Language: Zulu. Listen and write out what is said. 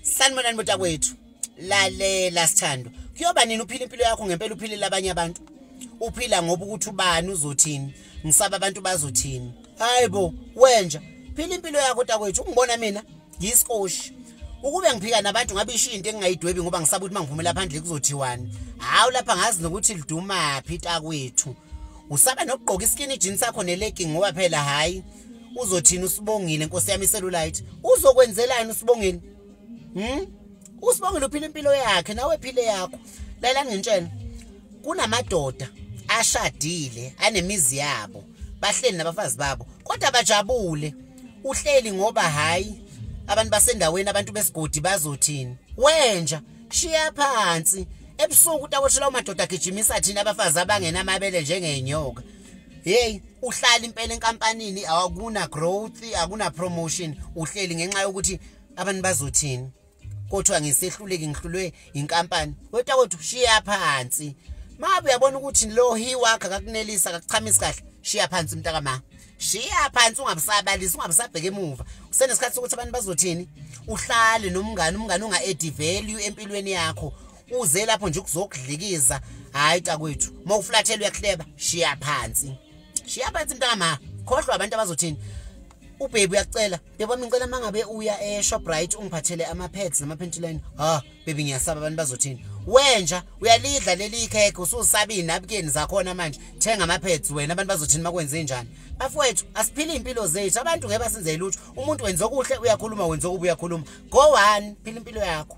sanibonani muta kwethu lalela sithandwa kuyoba nini uphila impilo yakho ngempela uphilela abanye abantu uphila ngoba ukuthi ubani uzothini ngisaba abantu bazothini hayi bo wenja phila impilo yakho takwethu ungibona mina ngiyiskoshi ukube ngiphika nabantu ngabe ishiye into engingayidwebi ngoba ngisaba ukuthi mangiphumela phandle kuzothiwani hawu lapha ngazi nokuthi lidumaphi takwethu usaba nokugqoka iskini jean sakho nelegi ngoba phela hhayi uzothini usibongile nkosi yami iselulite uzokwenzelani usibongile hm usibongile uphila impilo yakhe nawe phile yakho lalela ngintshela kunamadoda ashadile anemizi yabo bahleli nabafazi babo kodwa bajabule uhleli ngoba hayi abantu basendaweni abantu besigodi bazothini wenja shiya phansi ebusuku utakoshela umadoda agijimisa thina abafazi abangenamabele njengenyoka hey uhlala impela enkampanini awakuna growth akuna promotion uhleli ngenxa yokuthi abantu bazothini kodwa ngisehluleki ngihlulwe inkampani wetwa kodwa shiya phansi mabe uyabona ukuthi lo hi wakhe akakunelisa akakuchamisi kahle shiya phansi umntaka ma shiya phansi ungabusabalisi ungabusabheke emuva usenesikhathi sokuthi abantu bazothini uhlale nomngane umngane unga-add value empilweni yakho uze lapho nje ukuzokudlikiza hayi takwethu uma uflathela uyakuhleba shiya phansi shiya phansi mntama khohlwa abantu abazothini ubhebi uyakucela beba ngicela mangabe uya eShoprite ungiphathele ama pads nama panty line ha bebi ngiyasaba abantu bazothini wenja uyalidla leli cake ususabini nabukeni zakhona manje thenga ama pads wena abantu bazothini makwenze njani bafowethu asiphile impilo zethu abantu ngeke basenze lutho umuntu wenza okuhle uyakhuluma wenza okubi uyakhuluma go one phila impilo yakho